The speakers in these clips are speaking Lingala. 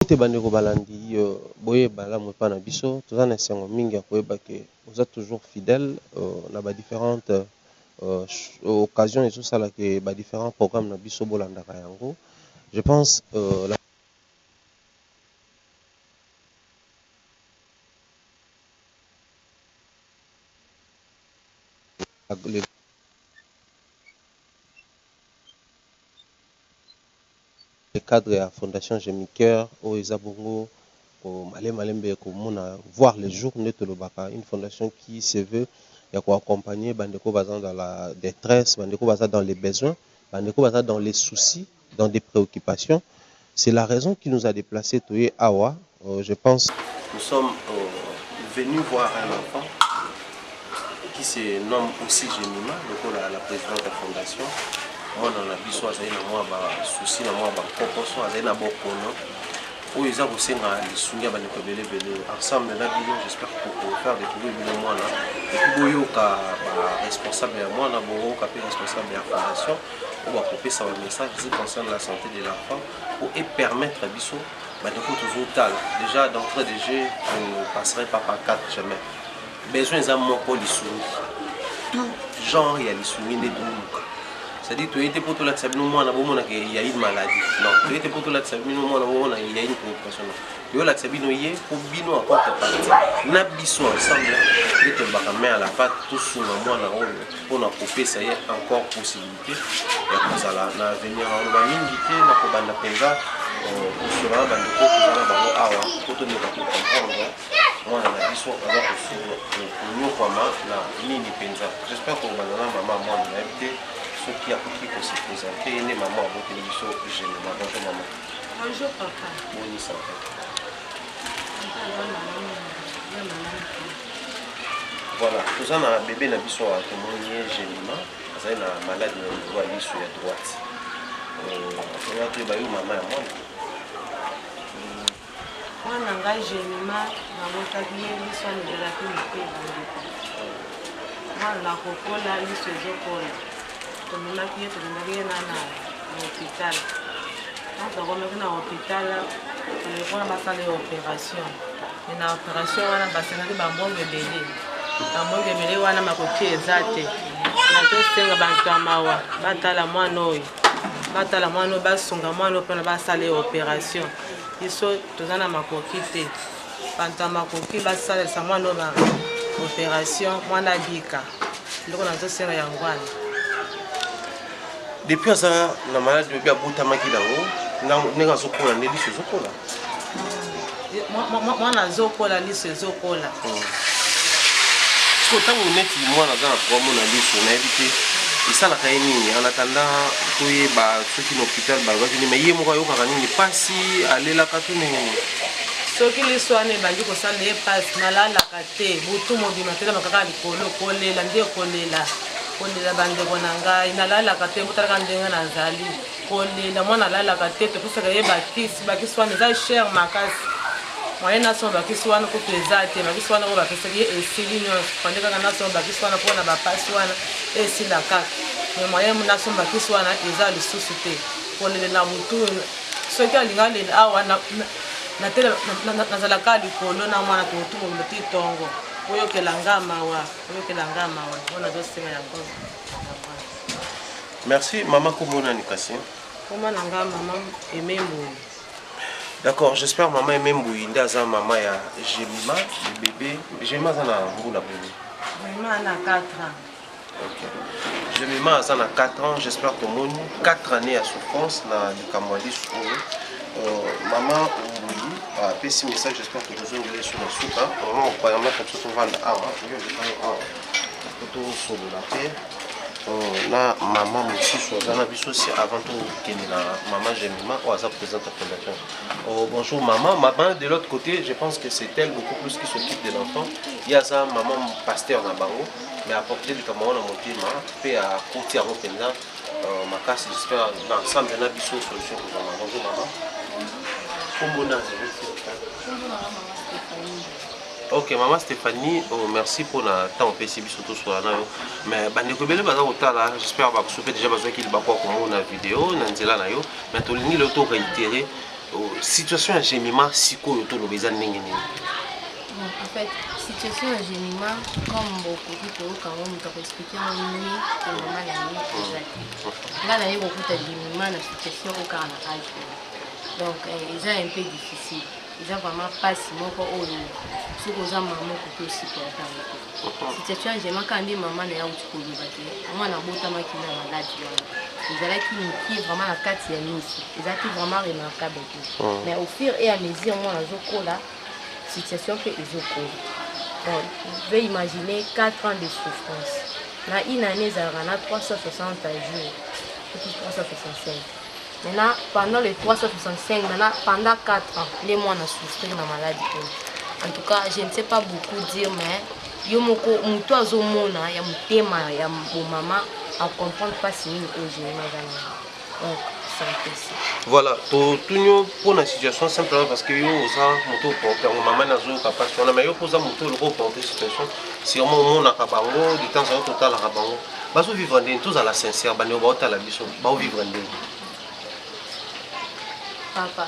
Mbote bandeko balandi yy boye malamu epa na biso toza na esengo mingi ya koyeba ke oza toujours fidèle na ba differentes occasions ezo sala ke ba differents programmes na biso bolandaka yango je pense le cadre ya fondation Gemicoeur oyo eza bongo ko malembe malembe ko mona voir le jour nde to lobaka une fondation qui se veut ya ko accompagner ba ndeko baza dans la detresse, ba ndeko baza dans le besoin, ba ndeko baza dans le souci, dans des preoccupations, c'est la raison qui nous a deplace toye awa Oh, je pense. Nous sommes euh, venus voir un enfant qui se nomme aussi Gemima, lokola la présidente de la fondation. mwana na biso azali na mwa basusi na mwa bankokoso azali na bokono oyo eza kosenga lisungi ya bandeko ebele ebele ensemble na bino j'espère kofaire découvrir bino mwana epuis boyoka baresponsable ya mwana boyoka mpe responsable ya fondation oyo bakopesa bamessage zi concerne la santé de l'enfant po epermettre biso bandeko tozotala déjà d'entrée de jeu ne passerai pas par 4 jamais besoin eza moko lisungi tout genre ya lisungi nde toluka c'est-à-dire toyei te mpo tolakisa bino mwana bomonaka ya une maladie non toyei te mpo tolakisa bino mwana bomona ya une préoccupation non toyolakisa bino ye mpo bino akote parti na biso ensemble nde tolobaka main à la pate tosunga mwana oyo mpo na kopesa ye encore possibilité ya kozala na avenir aloba mingi te na kobanda mpenza kosola na bandeko toza na bango awa mpo tomeka kocomprendre mwana na biso aza konyokwama na nini mpenza jespere kobanda na mama mwana nayebi te soki akoki kosepresente ye nde mama aboteli biso genema bonjour mama bonjour papa bonisa voilà toza na bebe na biso awa tomoni ye genema azali na maladi na niveau ya lisu ya droite oya euh, toyeba yo mama ya mwana mwana ngai genima nabotaki ye liso amizalaki moke mwana nakokola liso ezokola tomemaki ye tolingaki ye na na hopital ntango tokomaki na hopital toyekola basala ye operation na operation wana basengaki bambongo ebele bambongo ebele wana makoki eza te nazosenga bantu ya mawa batala mwana oyo batala mwana oyo basunga mwana oyo mpona basala ye operation biso toza na makoki te bantu ya makoki basalisa mwana oyo ba operation mwana abika ndoko nazosenga yango wana depuis aza na maladi oyebi abotamaki nango ndenge azokola nde liso ezokola mwana azokola liso ezokola hmm. siko ntango neti mwana aza na promo na liso nayebi te esalaka ye nini en attendant toyeba soki na hôpital balobaki nini mai ye moko ayokaka nini mpasi alelaka to ndenge nini soki liso wana ebandi kosala ye mpasi nalalaka te butu mobima telema kaka likolo kolela nde kolela kolela bandeko na ngai nalalaka te botalaka ndenge nazali kolela mwana alalaka te topesaka ye bakisi bakisi wana eza cher makasi moye nasoma bakisi wana kutu eza te bakisi wana oyo bapesaki ye esili nyonso pande kaka nasoma bakisi wana mpona bapasi wana esila kaka me moye nasoma bakisi wana eza lisusu te kolelela motu soki alinga lela awa nazalaka likolo na mwana tokotukololo te tongo oyokela nga mawa oyokela nga mawa oyo nazosenga yango merci mama kombo nani kasi kombo na nga mama aime mboyi d'accord j'espère mama aime mboyi nde aza mama ya gemima le bébé gemima aza na mbula boni gemima na 4 ans okay. gemima aza na 4 ans j'espère tomoni 4 années ya souffrance na likambo ya lisu oyo euh, mama mboyi apesi ah, message j'espère que tozongeli sur na suka vraiment opermettre biso tovanda awa totosolola te na mama mosusu aza na biso si avant tokende na mama gemima oyo aza présidente ya fondation oh, bonjour mama mama de l'autre côté je pense que c'est elle beaucoup plus qui s'occupe de l'enfant ye aza mama pasteur na bango mais aporte likambo yango na motema mpe akoti yango mpenza Euh, makasi j'espère na ensemble na biso solution kozwama bonjour mama kombo nani ok mama stéphanie oh, merci mpona ntango opesi biso toswala na yo mais bandeko ebele baza kotala j'espère bakoso mpe déjà bazwaki libaku ya komona video na nzela na yo mais tolingi leo to réitere oh, situation ya gemima sikoyo toloba eza ndenge nini En fait, situation ya Gemima, comme bokoki koyoka yango moto akoexplike yango nini ke mama na ye eza te. Nga na ye kokuta Gemima na situation oyo kaka na age oyo. Donc eh, eza un peu difficile. Eza vraiment pasi moko oyo soki oza mama okoki osupporta yango te. Situation ya Gemima kaka nde mama na ye auti koloba te. Mwana abotamaki na maladi wana. ezalaki mokie vraiment na kati ya miso eza te vraiment remarquable te mais au fur et à mesure mwana azokola situation mpe ezokola bon ve imagine 4 ans de souffrance na une année ezalaka na 360 jours soki 365 maintenant pendant le 365 maintenant pendant 4 ans nde mwana souffrir na maladi oyo en tout cas je ne sais pas beaucoup dire mais yo moko motu azomona ya motema ya bomama acomprendre mpasi nini oyo jenima eza na yango voilà totuni yo mpo na situation simplement parce que yo oza moto oporte yango mama nazoyoka mpasi wana mai yo mpo oza moto oloko oporte situation sûrement omonaka bango de temps ao totalaka bango bazovivre ndenge tozala sincère bandeko baotala biso baovivre ndenge papa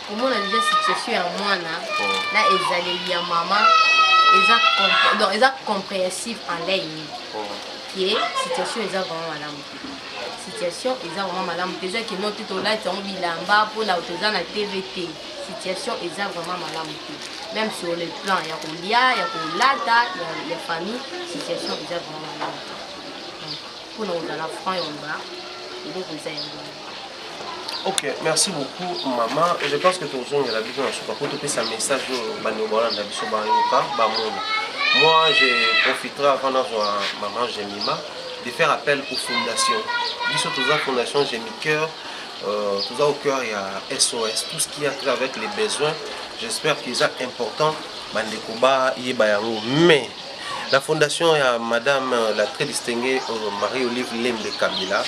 komona deja situation ya mwana oh. na ezaleli ya mama eza compréhensif en lei ye oh. situation eza vraiment malamu situation eza vraiment malamu te eza kino te tolati yango bilamba mpona toza na tv te situation eza vraiment malamu te même sur le plan ya kolia ya kolata ya, ya famille situation eza vraiment malamu te mpona kozala franc yomba eloko eza yango Ok, merci beaucoup maman. Je pense que tozongela biso na suka po topesa message oyo bandeko balanda biso bayoka bamona. Moi, je profiterai avant nazwa maman Jemima de faire appel aux fondations. Biso toza fondation Jemi Cœur, euh, toza au cœur ya SOS, tout ce qui a trait avec les besoins. J'espère qu'ils sont importants bandeko bayeba yango mais La fondation ya madame euh, la très distinguée euh, Marie-Olive Lembe Kabila,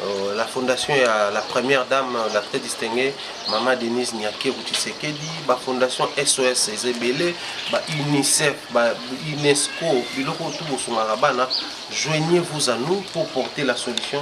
euh, la fondation ya la première dame, la très distinguée Mama Denise Nyakeru Tshisekedi, ba fondation SOS Ezebele, ba UNICEF, ba UNESCO, biloko tout bosungaka bana, joignez-vous à nous pour porter la solution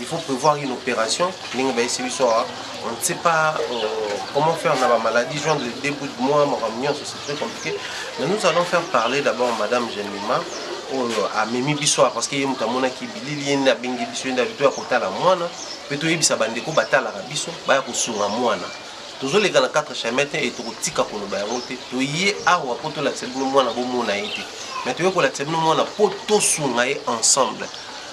Il faut prévoir une opération. Ndenge ba essayer biso awa, on ne sait pas euh, comment faire na ba maladie joindre les deux bouts de moi, makambo nyonso c'est très compliqué. Mais nous allons faire parler d'abord madame Jemima oyo amemi biso awa parce que ye moto amonaki bilili ye nde abengi biso ye nde abi toya kotala mwana mpe toyebisa bandeko batalaka biso baya kosunga mwana tozoleka na 4 chemin te e tokotika koloba yango te toye awa mpo tolakisa bino mwana bomona ye te mais toye kolakisa bino mwana mpo tosunga ye ensemble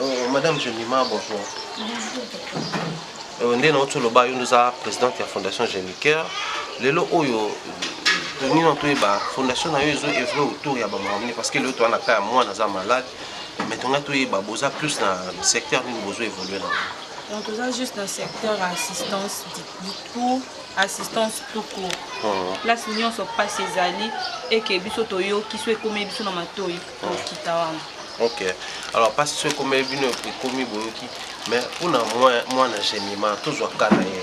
Oh, madame Jemima, bonjour. Euh, nde nauti oloba yo nde oza présidente ya fondation géniqueur lelo oyo toni na toyeba fondation na yo ezo evre autour ya bamakambo nini parce que lelo toa na ka ya mwana aza malade mais tongai toyeba boza plus na secteur nini bozo évolue na donc oza juste na secteur ya assistance du tout assistance tout court place nyonso mpasi ezali eke biso toyoki so ekomi biso na matoi okita wana ok alors mpasi so ekomi bino ekomi boyoki mais mpona mwana gemima tozwa ka na ye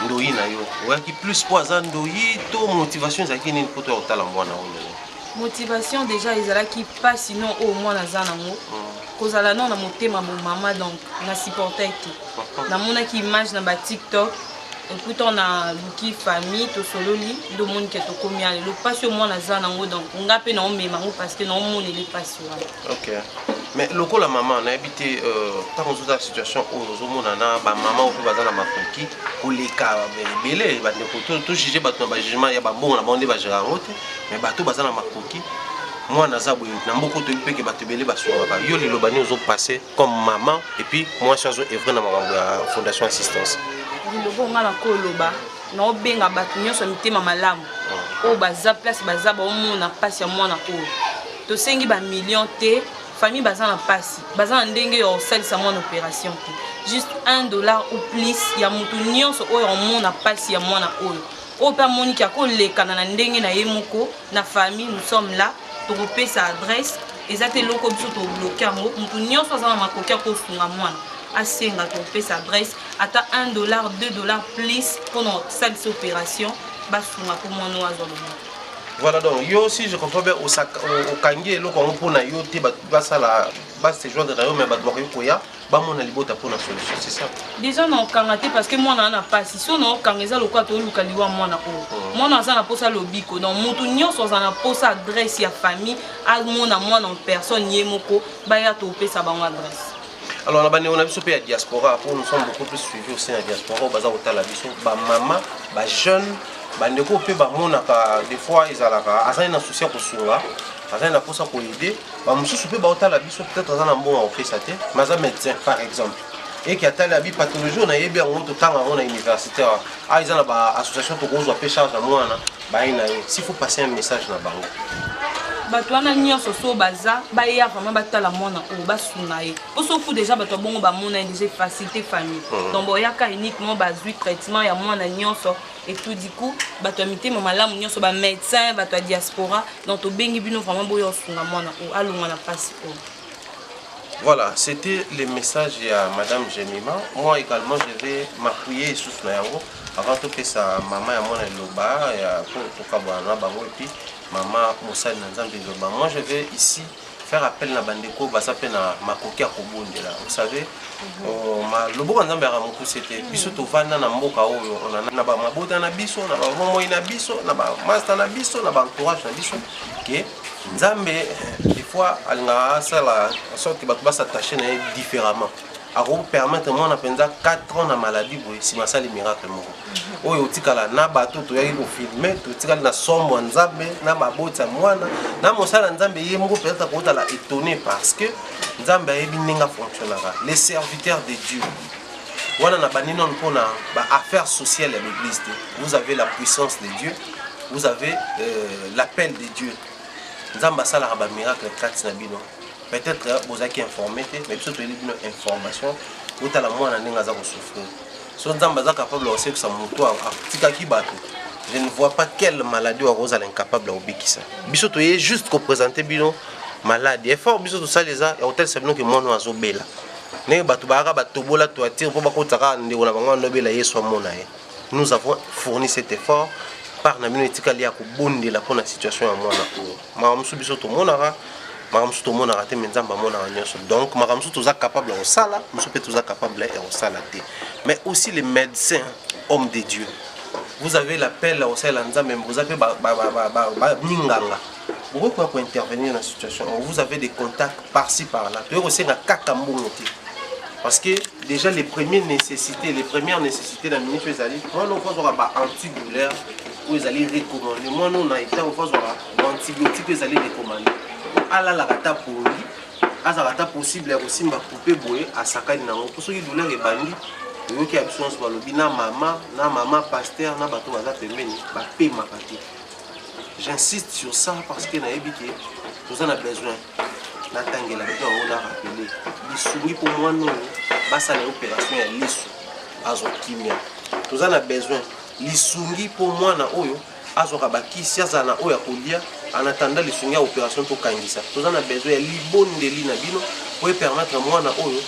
ndoyi na yo oyaki plus mpo aza ndoyi to motivation ezalaki nini mpo toya kotala mwana oyo lelo motivation déjà ezalaki mpasi no oyo mwana aza nango hmm. kozala no na motema bomama donc na supportai te namonaki image na batiktok ekuta na luki famille tosololi ndo omoni ke tokomi ya lelo mpasi oyo mwana aza nango donc nga mpe naomema yango parce que naomoneli mpasi wana ok mais lokola mama nayebi te ntango euh, ozozala situation oyo ozomona na bamama oyo mpe baza na makoki koleka ebele bandeko tojuge bato na bajugement ya bambongo na bango nde bajera yango te mais bato baza na makoki mwana aza boye na mboka oyo toyebi mpeke bato ebele basungaka yo liloba nini ozopase comme maman et puis mwasi azo evre na makambo ya fondation assistance lilobo nga na koloba naobenga bato nyonso ya mitema malamu ah. oyo baza place baza baomona mpasi ya mwana oyo tosengi bamillion te famille baza na mpasi baza na ndenge ya kosalisa mwana opération te juste 1 dollar ou plus ya moto nyonso oyo amona mpasi ya mwana oyo oyo mpe amoniki akolekana na ndenge na ye moko na famille nous sommes là tokopesa adresse eza te eloko biso tobloke yango moto nyonso aza na makoki ya kosunga mwana asenga tokopesa adresse ata 1 dollar 2 dollar plus mpona kosalisa opération basunga mpo mwana oyo azwa loboko voilà donc yo si je comprends bien okangi eloko yango mpo na yo te bato basala basejoindre na yo me bato bakoki koya bamona libota mpo na solution c'est ça déjà na okanga te parce que mwana wana pasi so na okanga eza lokola tooluka liwa mwana oyo oh. mwana aza na mposa lobiko donc moto nyonso aza na mposa adresse ya famille amona mwana en personne ye moko baya topesa bango adresse alors na bandeko na biso mpe ya diaspora mpo nous sommes beaucoup plus suivi au sein ya diaspora oyo baza kotala biso bamama bajeune bandeko mpe bamonaka des fois ezalaka azali na souci ya kosunga azali na mposa koyede bamosusu mpe baotala biso peut-être aza na mbongo akopesa te mais aza médecin par exemple eke atali abi pathologie oyo nayebi yango totanga yango na université awa awa eza na baassociation tokozwa mpe charge ya mwana baye na ye si faut passer un message na bango bato wana nyonso so baza baya vraiment batala mwana oyo basunga ye mpo soku deja bato ya bongo bamona ye deja efacilité famille hmm. donc boyaka uniquement bazwi traitement ya mwana nyonso et tout du coup bato ya mitema malamu nyonso ba médecin bato ya diaspora donc tobengi bino vraiment boya osunga mwana oyo alongwa na mpasi oyo Voilà, c'était le message à Madame Jemima. Moi également, je vais m'appuyer sous la yango avant tout que sa maman et moi loba pour tout kabana bango et puis maman Moussa Nzambi loba. Moi je vais ici faire appel na bandeko baza mpe na makoki ya kobondela vous savez mhm. oh, loboko nzambe yaka mokuse te mhm. biso tovanda na mboka oyo na bamabota na biso na bamomoi na biso na bamasta na biso na baentourage na biso ke nzambe eh, des fois alingaka asala sorte bato basatache na ye différemment akoki permettre mwana mpenza 4 ans na maladie boye nsima asali miracle moko mhm. oyo otikala na bato toyaki kofilme totikali na sombo ya nzambe na baboti ya mwana na mosala nzambe ye moko peut-être akotala étonné parce que nzambe ayebi ndenge afonctionnaka les serviteurs de dieu wana na bandi nano mpona baaffaire sociale ya l'église te vous avez la puissance de dieu vous avez euh, l'appel de dieu nzambe asalaka bamiracle kati na bino peut-être euh, bozalaki informe te mais biso toyebi bino information botala mwana ndenge aza kosouffrir so nzambe aza capable ya kosekisa motu atikaki bato je ne vois pas quelle maladie oyo kozala incapable ya kobikisa biso toye juste kopresente bino maladi effort biso tosali eza ya kotalisa bino ke mwana oyo azobela ndenge bato bayaka batobola toitire mpo bakotisa kaka ndeko na bango anobela yesu amona ye nous avons fourni cet effort part na bino etikali ya kobondela mpo na situation ya mwana oyo makambo mosusu biso tomonaka makambo mosusu tomonaka te me nzambe amonaka nyonso donc makambo mosusu toza capable ya kosala mosusu mpe toza capable ya kosala te mais aussi les médecins homme de dieu vous avez l'appel ya kosalela nzambe boza mpe minganga bokoki koya kointervenir na situation oyo vous avez des contacts parci par là toyei kosenga kaka mbongo te parce que déjà les premières nécessités les premières nécessités na ministre ezali wana okozwaka ba antidouleur oyo ezali recommande mwana oyo na ntango mpo azwaka baantibiotique oyo ezali recommande alalaka ata pongi azalaka ata possible ya kosimba coupe boye asakani nango mpo soki douleur ebandi oyoki ya biso nyonso balobi na mama na mama paster na bato baza pembeni bapemaka te j'insiste sur ça parce que nayebi ke toza na besoin natangela bino yango na rapele lisungi mpo mwana oyo basala opération ya liso azwa kimia toza na besoin lisungi mpo mwana oyo azwaka bakisi azala na oyo akolia en attendant lisungi ya operation tokangisa toza na besoin ya libondeli na bino mpo epermettre mwana oyo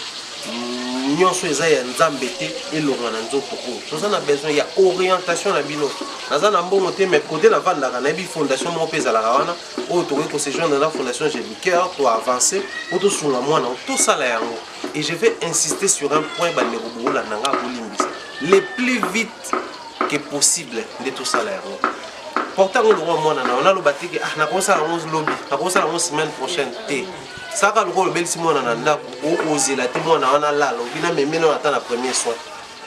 mm, nyonso eza ya nzambe te elonga na nzoto oyo toza na besoin ya orientation na bino naza na mbongo te mais kote navandaka nayebi fondation moko mpe ezalaka wana oyo tokoki kosejoindre na fondation jelicoeur to avance mpo tosunga mwana tosala yango et je vais insister sur un point bandeko bokolanda nga bolimbisa le plus vite que possible nde tosala yango porte yango lokwa mwana na yo naloba teke ah nakosala yango lobi nakosala yango semaine prochaine te saka lokola obelisi mwana na ndako okozela te mwana wana lala obi na memene wana ata na premier soin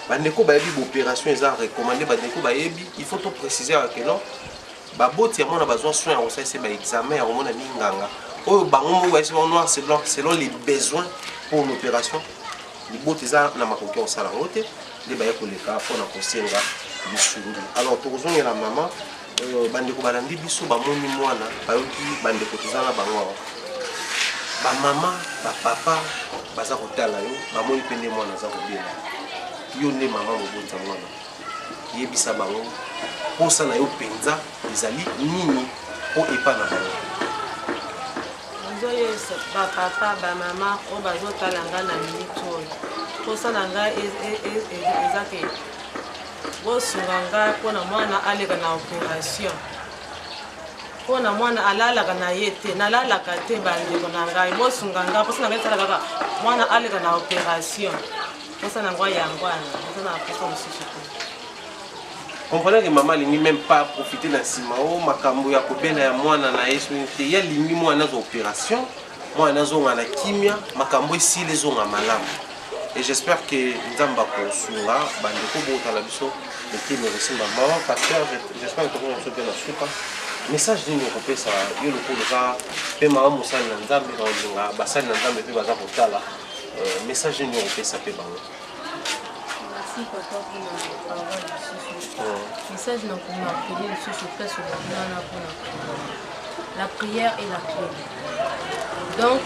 bandeko bayebi baopération eza recommande bandeko bayebi il faut to préciser yaka ke non baboti ya mwana bazwa soin ya kosalisa ba examen ya komona minganga oyo bango moko bayesi bango noir c'est blanc selon les besoins pour l'opération libota eza na makoki ya kosala yango te nde baye koleka mpo na kosenga lisungi alors tokozongela mama euh, bandeko balandi biso bamoni mwana bayoki bandeko toza na bango awa bamama bapapa baza kotala yo bamoni mpe nde mwana aza kobela yo nde mama moboti ya mwana Yebisa bango mposa na yo mpenza ezali nini mpo epa na bango. Nazoyebisa bapapa bamama oyo bazotala nga na miniti oyo mposa na nga e, e, e, eza ke bosunga nga mpo na mwana aleka na operation mpo na mwana alalaka na ye te nalalaka te bandeko na ngai bosunga nga mposa na ngai esalaka kaka mwana aleka na operation Posa na ngwa yango wana, eza na posa mosusu te. Comprenez que mama alingi même pas profiter na nsima o makambo ya kobela ya mwana na ye soki te ye alingi mwana azwa opération mwana azonga na kimia makambo esili ezonga malamu et j'espère que nzambe akosunga bandeko botala biso mitema ekosimba mama pasteur j'espère que tokoki biso mpe na suka message nini okopesa yo lokola oza mpe mama mosali na nzambe na olinga basali na nzambe mpe baza kotala Euh, message nini okopesa mpe bango merci papa mpona parole lisusu message na komarkele lisusu place olobi wana mpona la prière et la clé donc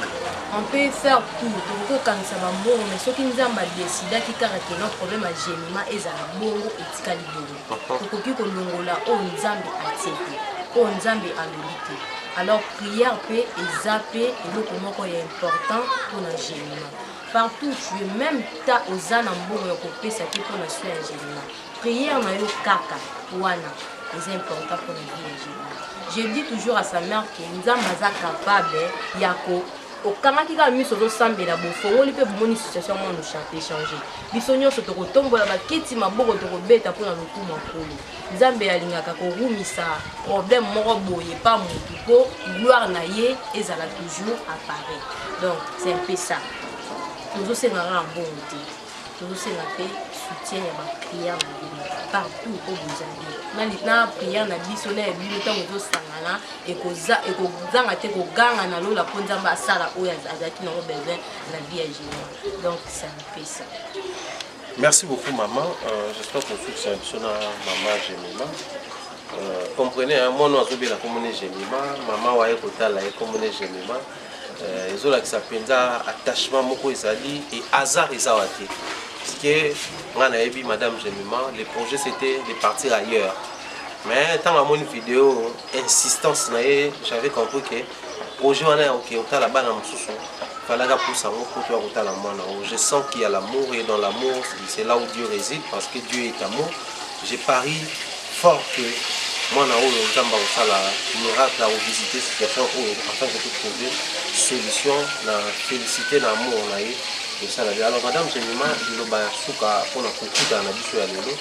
on peut faire tout tokoki kokanisa bambongo mais soki nzambe adesidaki kaka ke no problème ya gemima ezala bongo etikali bongo tokoki kolongola oyo nzambe atie te oyo nzambe alobi te alors prière mpe eza mpe eloko moko ya important mpo na gemima partout tu es même ta oza na mbongo ya kopesa te mpo na soi ya gemima prière na yo kaka wana eza important mpo na vie ya gemima je dis toujours à sa mère que nzambe aza capable ya ko okangaki kaka miso ozosambela bofongoli mpe bomoni situation mwana osharte echange biso nyonso tokotombola bakiti maboko tokobeta mpo na lokumu ya nkolo nzambe alingaka korumisa problème moko boye pa motu mpo gloire na ye ezala toujours appareil donc c'est un peu ça tozosenga kaka mbongo te tozosenga mpe soutien ya bapriere na bino partout oyo bozali na priere na biso na ya bino ntango ezosangana ekozanga te koganga na lola mpo nzambe asala oyo azalaki nango besoin na vie ya général donc ça me fait ça Merci beaucoup maman, euh, j'espère que vous êtes sur la maman Gemima. Euh, comprenez, hein, moi non, je suis là comme Gemima, maman ouais, côté là, comme Gemima. euh, ezolakisa mpenza attachement moko ezali et hasard eza wa te puisque ngai nayebi madame gemima le projet c'était de partir ailleurs mais ntango amoni video insistance na ye j'avais compris que projet wana ya oke otala bana mosusu falaka pusa yango mpo toya kotala mwana yango je sens qu'il y a l'amour et dans l'amour c'est là où dieu réside parce que dieu est amour Je parie fort que mwana oyo nzambe akosala miracle akovisite situation oyo afin que totrouve solution na félicité na amour na ye tosala bien alors madame jemima liloba ya suka mpona kokutana na biso ya lelo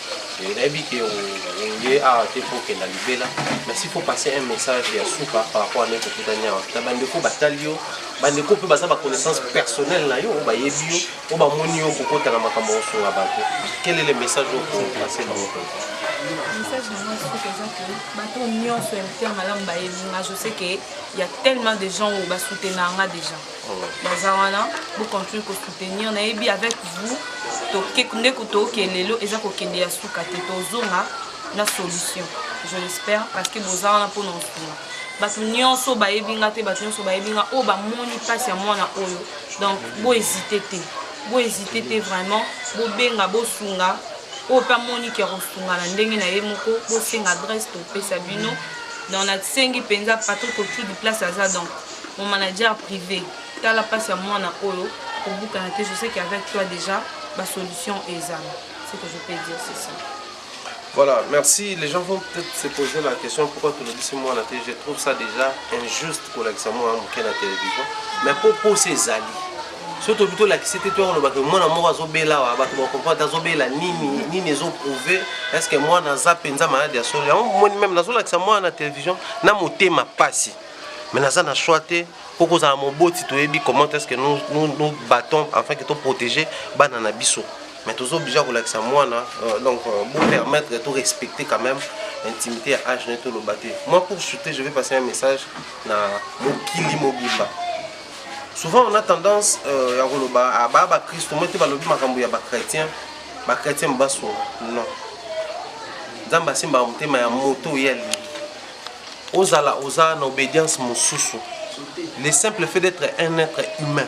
nayebi ke oye awa te mpo okenda libela mais si faut passer un message ya suka par rapport ane kokutani awa na bandeko batali yo bandeko mpe baza baconnaissance personnelle na yo bayebi yo po bamoni yo kokota na makambo ya kosunga bato quel est le message okopase bango message na ngai soki eza ke bato nyonso ya mitema malamu bayebi nga je sais ke ya tellement de gens oyo basoutenir nga déjà oh. baza wana bocontinue kosoutenir nayebi avec vous nde toke lelo eza kokende ya suka te tozonga na solution je l'espère parce que boza wana mpo na osunga bato nyonso bayebi nga te bato nyonso bayebi nga oyo bamoni mpasi ya mwana oyo donc bo hésite te bo hésite te vraiment bobenga bosunga oyo mpe amoni ke akosunga na ndenge na ye moko bosenga adresse topesa bino donc nasengi mpenza patrick ocudu place aza donc mon manager privé tala mpasi ya mwana oyo kobukana te je sais qu'avec toi déjà basolution ezala ce que je peux dire c'est ça Voilà, merci. Les gens vont peut-être se poser la question pourquoi tu le dis ce mois Je trouve ça déjà injuste pour l'accès moi à hein, la télévision. Mais pour, pour ces alliés, surtout plutôt la c'était toi on que moi moi azobela wa bato ba comprendre azobela nini nini ezo prouver est-ce que moi naza penza malade ya solo yango moni même nazo lakisa moi na télévision na motema pasi mais naza na choix te po kozala moboti toyebi comment est-ce que nous nous, nous battons afin que to protéger bana na biso mais toza obligé kolakisa mwana euh, donc euh, bo permettre to respecter quand même intimité ya age naye toloba te moi pour shooter je vais passer un message na mokili mobimba souvent on a tendance euh, ya koloba ah, baa bakristo moi te balobi makambo ya bachrétien bachrétien basunga non nzambe asimbaka motema ya moto oyo alingi ozala oza na obédience mosusu le simple fait d'être un être humain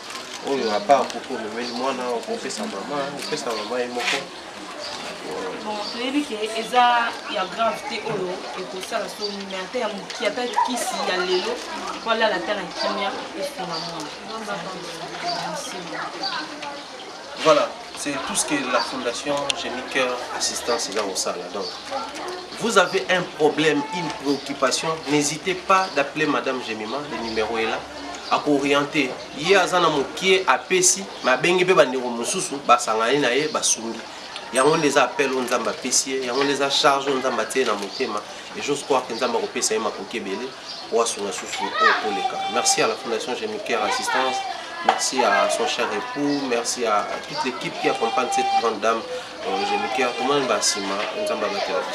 oyo apa akoki omemeli mwana okopesa mama opesa mama ye moko bon toyebi ke eza ya grave te oyo ekosala somi me ata ya moki ata kisi ya lelo po alala ata na kimia esunga mwana Voilà, c'est tout ce que la fondation Génie Cœur Assistance eza kosala. Donc, vous avez un problème, une préoccupation, n'hésitez pas d'appeler Madame Gemima, le numéro est là. akooriente ye aza na mokie apesi me abengi mpe bandeko mosusu basangani na ye basungi yango nde eza appel oyo nzambe apesi ye yango nde eza charge oyo nzambe atie na motema Et j'ose croire que Nzamba kopesa ye makoki ebele pour asunga susu oyo koleka. Merci à la Fondation Gémicaire Assistance, merci à son cher époux, merci à toute l'équipe qui accompagne cette grande dame euh, Gémicaire. Tout le monde va sima, Nzamba va te